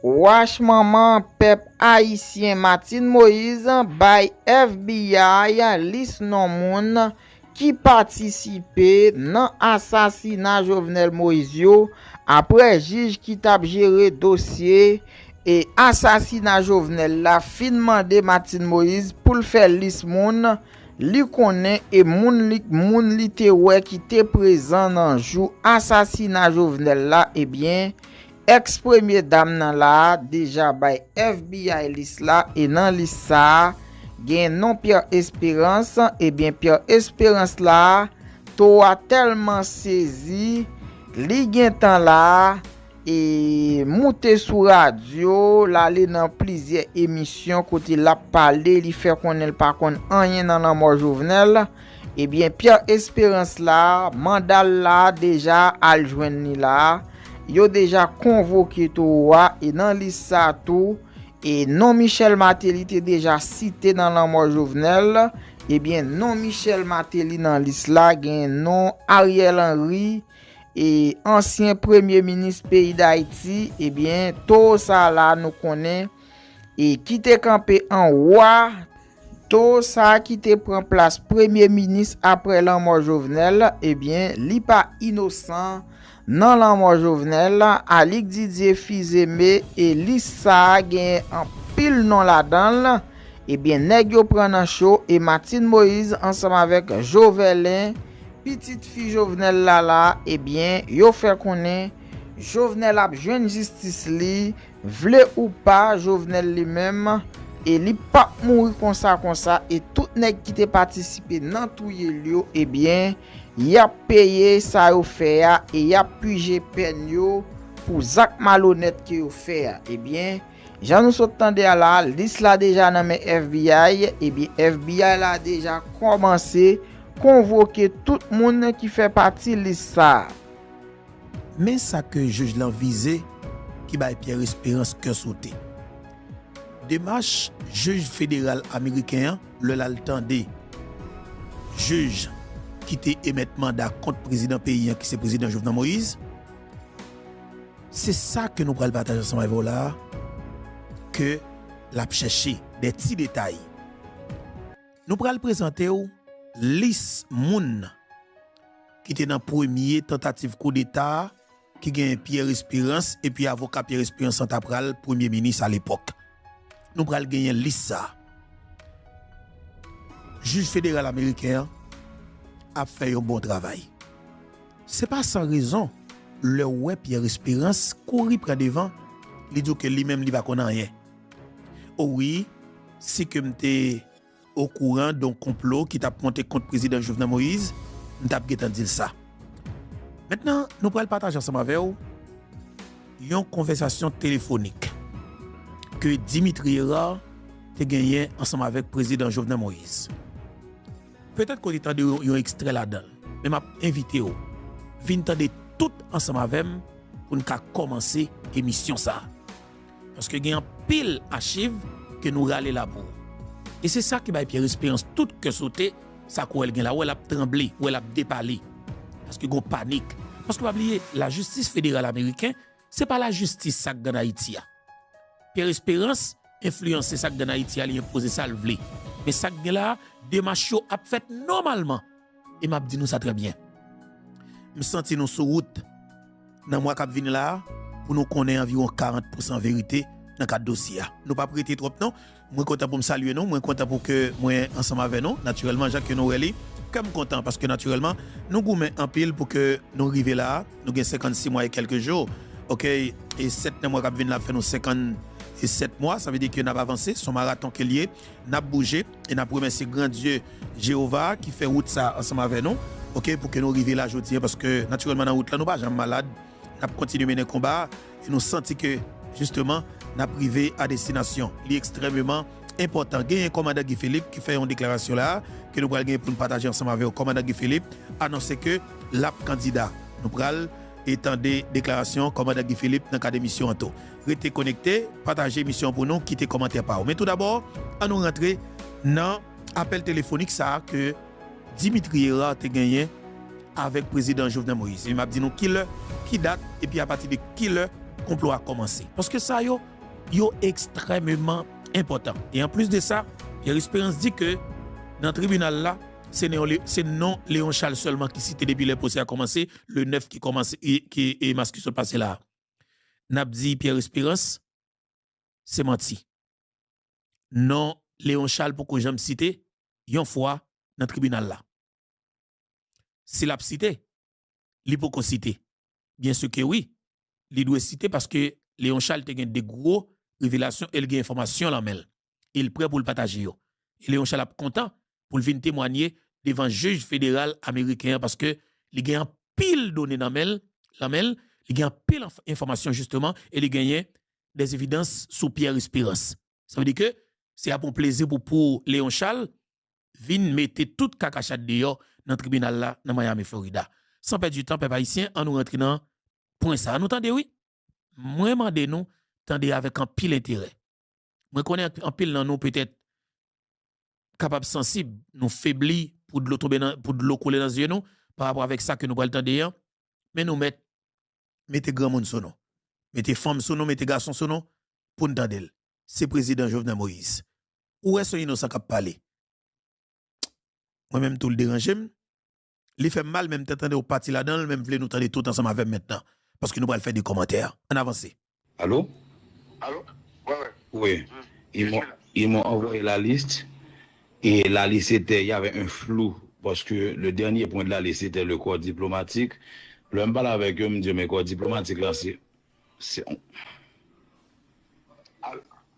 Wach manman pèp ayisyen Martine Moise bay FBI lis non moun ki patisipe nan asasina Jovenel Moise yo aprè jij ki tap jere dosye asasina Jovenel la fin mande Martine Moise poul fè lis moun li konnen e moun li te wè ki te prezan nan jou asasina Jovenel la ebyen Ex premye dam nan la a deja bay FBI lis la e nan lis sa a gen non Pierre Esperance ebyen Pierre Esperance la a to a tèlman sezi li gentan la a e moute sou radyo l ale nan plizyè emisyon kote l ap pale li fè konnen l pa konn anyen nan lanmò Jovenel. Ebyen Pierre Esperance la mandal la deja al jwenn li la yo deja konvoke towo a e nan lis sa tou e non Michel Martelly te deja site nan lanmò Jovenel ebyen non Michel Martelly nan lis la gen non Ariel Henry e ansyen premye minis peyi dayiti ebyen towo sa la nou konnen e kite kanpe anwo a Toro sa ki te pran plas premye minis aprè lanmò Jovenel ebyen li pa inosan nan lanmò Jovenel, Alix Didier Fils-Aimé e lis sa genyen anpil non ladanl ebyen nèg yo pran nan cho e Martine Moïse ansanm avèk Joverlein pitit fi Jovenel la la ebyen yo fè konnen Jovenel ap jwenn jistis li Vle ou pa Jovenel li menm e li pap mouri konsa konsa e tout nèg ki te patisipe nan touye l yo ebyen yap peye sa yo fè a e yap pije pèn yo pou zak malonèt ke yo fè a ebyen jan nou sot tande a la lis la deja nan men FBI ebyen FBI la deja kòmanse konvoke tout moun ki fè pati lis sa. Men sa ke jij lan vize ki bay Pierre Espérance kè sote. Demach jij federal ameriken an lè l al tande jij ki te emèt manda kont prezidan peyi an ki se prezidan Jovenel Moïse. Se sa ke nou pral pataje ansanm avè w la a ke l ap chèche dè ti detay. Nou pral prezante w lis moun. ki te nan premye tantativ koudeta a, ki genyen Pierre Espérance, epi avoka Pierre Espérance lan ta pral premye minis alepòk. Nou pral genyen lis sa. Jij federal ameriken an ap fè yon bon travay. Se pa san rezon, lè w wè Pierre Espérance kouri pran devan, li di w ke li menm li pa konn anyen. O wi, si ke m te. okouran don konplo ki tap monte kont prezidan Jovenel Moïse m tap gentan dil sa mentnan nou pral pataje ansanm avèw yon konvèsasyon telefonik ke Dimitri Herard te genyen ansanm avèk prezidan Jovenel Moïse petèt ke w te tande yon ekstrè ladanl men map envitew vin tande tout ansanm avèm poun ka kòmanse emisyon sa Paske gen anpil achiv ke nou rale la pou ou. E se sa ki bay Pierre Espérance tout kè sote, sa kò el gen la, ou wè lap tranble, ou wè lap depale. Paske gon panik. Paske pa bliye, la jistis federal ameriken, se pa la jistis sa k gad Ayiti a. Pierre Espérance enfliyanse sa k gad Ayiti a, li enpoze sa l vle. Men sa k gen la, demach yo ap fèt nòmalman. E map di nou sa trè byen. M santi nou sou wout nan mwa kap vini la a pou nou konnen anviwon 40 pousan verite nan kad dosye a. Nou pap rete twòp non. Mwen kontan pou m salye nou. Mwen kontan pou ke mwen ansanm avè nou. Natirèlman jan ke nou wè li, kè m kontan paske natirèlman nou goumen anpil pou ke nou rive la a. Nou gen 56 mwa e kèlke jou. Okey. E 7 nan mwa kap vini la ap fè nou 57 mwa. Sa vle di ke nap avanse. Son maraton ke li ye. Nap bouje. E nap remèsye gran Dye Jewova a ki fè wout sa a ansanm avè nou, oke, pou ke nou rive la jodi a, paske natirèlman nan wout la nou pa janm malad, nap kontinye mennen konba a e nou santi ke jisteman nap rive a destinasyon. Li ekstrèmeman enpòtan genyen Kòmandan Guy Philippe ki fè yon deklarasyon la a ke nou pral genyen pou nou pataje ansanm avè ou. Kòmandan Guy Philippe anonse ke lap kandida. Nou pral e tande deklarasyon Kòmandan Guy Philippe nan kad emisyon an tou. Rete konekte, pataje emisyon an pou nou, kite kòmantè pa ou. Men tou dabò, an nou rantre nan apèl telefonik sa a ke Dimitri Herard te genyen avèk Prezidan Jovenel Moïse. E m ap di nou ki lè, ki dat, epi a pati de ki lè konplo a kòmanse. Paske sa yo, yo ekstrèmeman enpòtan. E an plis de sa, Pierre Espérance di ke nan tribinal la, se se non Léon Charles sèlman ki site depi lè pwosè a kòmanse, le 9 ki kòmanse, ki mas ki sot pase la a. nap di pierre esperance se manti non leon chal poko janm site yon fwa nan tribinal la si lap site li poko site byen su ke wi li dwe site paske leon chal te gen de gro revelasyon el gen enfòmasyon lan menl. e l prè pou l pataje yo. E Leon Charles ap kontan pou l vin temwanye devan jij federal ameriken an paske li gen anpil done nan men l, lan men l, li gen anpil enfòmasyon jisteman e li genyen des evidans sou Pierre Esperance. Sa vle di ke se ap yon plezi pou pou Leon Charles vin mete tout kakachat deyò nan tribinal la nan Miami Florida. San pèdi tan pèp ayisyen an nou rantre nan pwen sa a nou tande wi. Mwen mande nou tande avèk anpil enterè. Mwen konnen anpil nan nou petèt kapab sansib, nou febli pou dlo tonbe nan, pou dlo koule nan zye nou pa rapò avèk sa ke nou pral tande an, men nou mèt mete granmoun sou nou, mete fanm sou nou, mete gason sou nou pou n tande l. Se Prezidan Jovenel Moïse. Ou wè se yon inosan k ap pale. Mwen menm tou l deranje m. Li fèm mal menm te tandew pati ladanl menm vle nou tande tout ansanm avèm mentnan paske nou pral fè de kòmantè ann avanse. Allo Allo wi wi wi ils m'ont ils m'ont envoyé la liste et la liste était il y avait un flou parce que le dernier point de la liste était le corps diplomatique lèm pale avèk yo m di yo men corps diplomatique lan se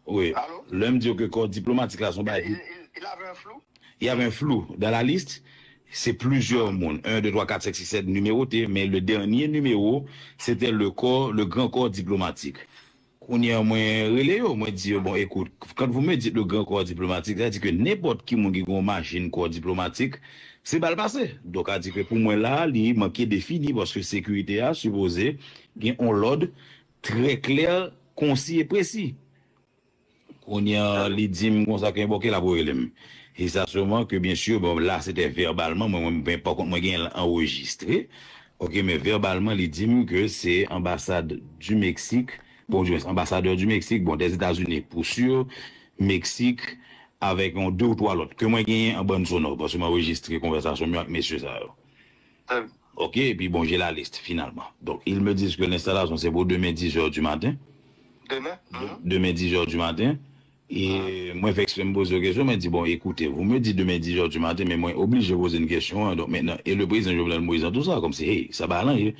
Lè m di yo ke kò diplomatik la son bagay ki. Il avè un flou? Il avè un flou dans la liste. Se plizyè moun, 1, 2, 3, 4, 5, 6, 7 nimewote, men le dènye nimewo se te le kò, le gran kò diplomatik. Kounye an mwen rele yo, mwen di yo, bon ekout, quand vous me dites le grand corps diplomatique, sa di ke nenpòt ki moun ki gen yon machinn kò diplomatik, se bal pase. Donk sa di ke pou mwen la a, li manke defini paske sekirite a sipoze Gen on lòd trè klè, konsi e presi. Kounye a, li di m konsa ke bon ke l ap rele m. E sa souvan ke byen sur, bon la se te vèbalman, mwen menm mwen pakont mwen genyen l anrejistre, ok, men vèbalman li di m ke se anbasad di Meksik, bon di mwens anbasadè di Meksik, bon dè Etazini pou sur, Meksik avèk on de ou twa lòt ke mwen genyen an bann sonò paske m anrejistre konvèsasyon m yo ak mesye sa yo. Tag. Ok epi bon j'ai la liste finalman donc ils me disent que l'installation c'est pour demain 10 heures du matin Demain uhmm. Demain 10 heures du matin et mwen fè eksprè m poze yo kesyon mwen di bon écoutez vous me dites demain 10 heures du matin men mwen oblije poze n kesyon an donc maintenant et le président Jovenel Moïse dans tout ça comme si hey sa pa alanje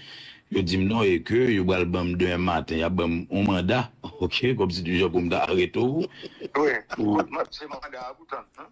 yo di m non et que yo pral ban m demen maten y ap ban m yon manda ok comme si du genre pou m ta arete w wi. Wi kout manda se manda a pou w tann.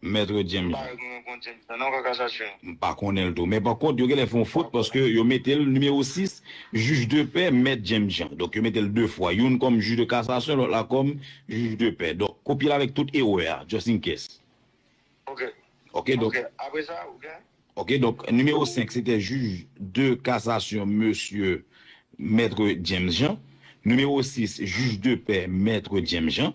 Maître James la. M pa konnen l tou. Men pa kont yo genlè fè yon fot paske yo mete l nimewo 6, Jij de pè, Mèt James Jean. Donk yo mete l 2 fwa. Youn kòm jij de kasasyon, lòt la kòm jij de pè. Donk kopye l avèk tout erè a, just in case. Ok donk. Ok donk nimewo 5 se te jij de kasasyon mesye Maître James Jean. Nimewo 6 jij de pè Maître James Jean.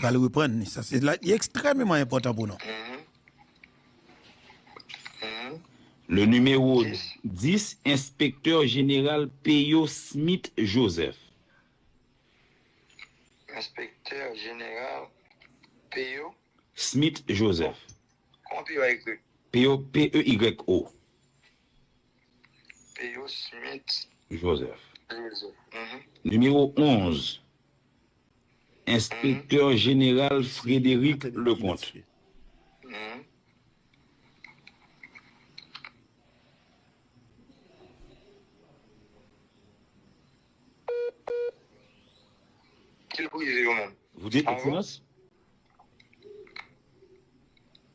Pral reprann li. Sa se li ekstrèmeman enpòtan pou nou. Le numéro 10, Inspecteur Général Peyo Smith Joseph. Inspecteur Général Peyo. Smith Joseph. Kòman Peyo a ekri? Peyo, P-E-Y-O. Théo Smith Joseph. Nimewo 11, Enspektè Jeneral Frédéric Leconte. Voute, Ekselans.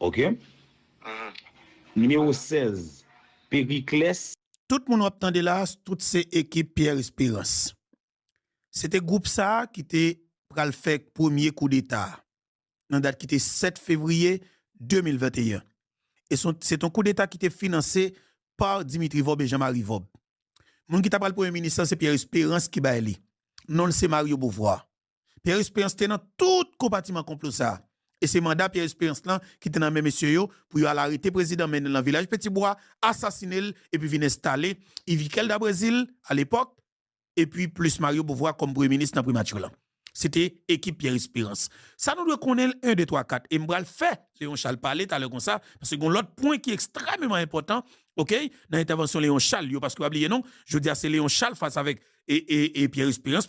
Ok. Nimewo 16, Pericles. Tout moun w ap tande la, tout se ekip Pierre Espérance. Se te gwoup sa a ki te pral fè premye koudeta a, nan dat ki te 7 fevriye 2021. E se te yon koudeta ki te finanse pa Dimitri Vorbe, Jean Marie Vorbe. Moun ki ta pral Premye minis lan se Pierre Espérance ki bay li. non l se Mario Beauvoir. Pierre Espérance te nan tout konpatiman konplo sa a e se manda Pierre Espérance lan ki te nan men mesye yo pou yo al arete prezidan mennen l nan vilaj Petibwa, asasine l epi vin enstale Yvikel da Brezil, alepòk, epi plis Mario Beauvoir kòm premye minis nan primati lan. Se te ekip Pierre Espérance. Sa nou dwe konnen l 1, 2, 3, 4 e m pral fè Léon Charles pale talè konsa paske gen yon lòt pwen ki ekstrèmeman enpòtan ok nan entèvansyon Léon Charles yo paske pa bliye non jodi a se Léon Charles fas avèk Pierre Espérance.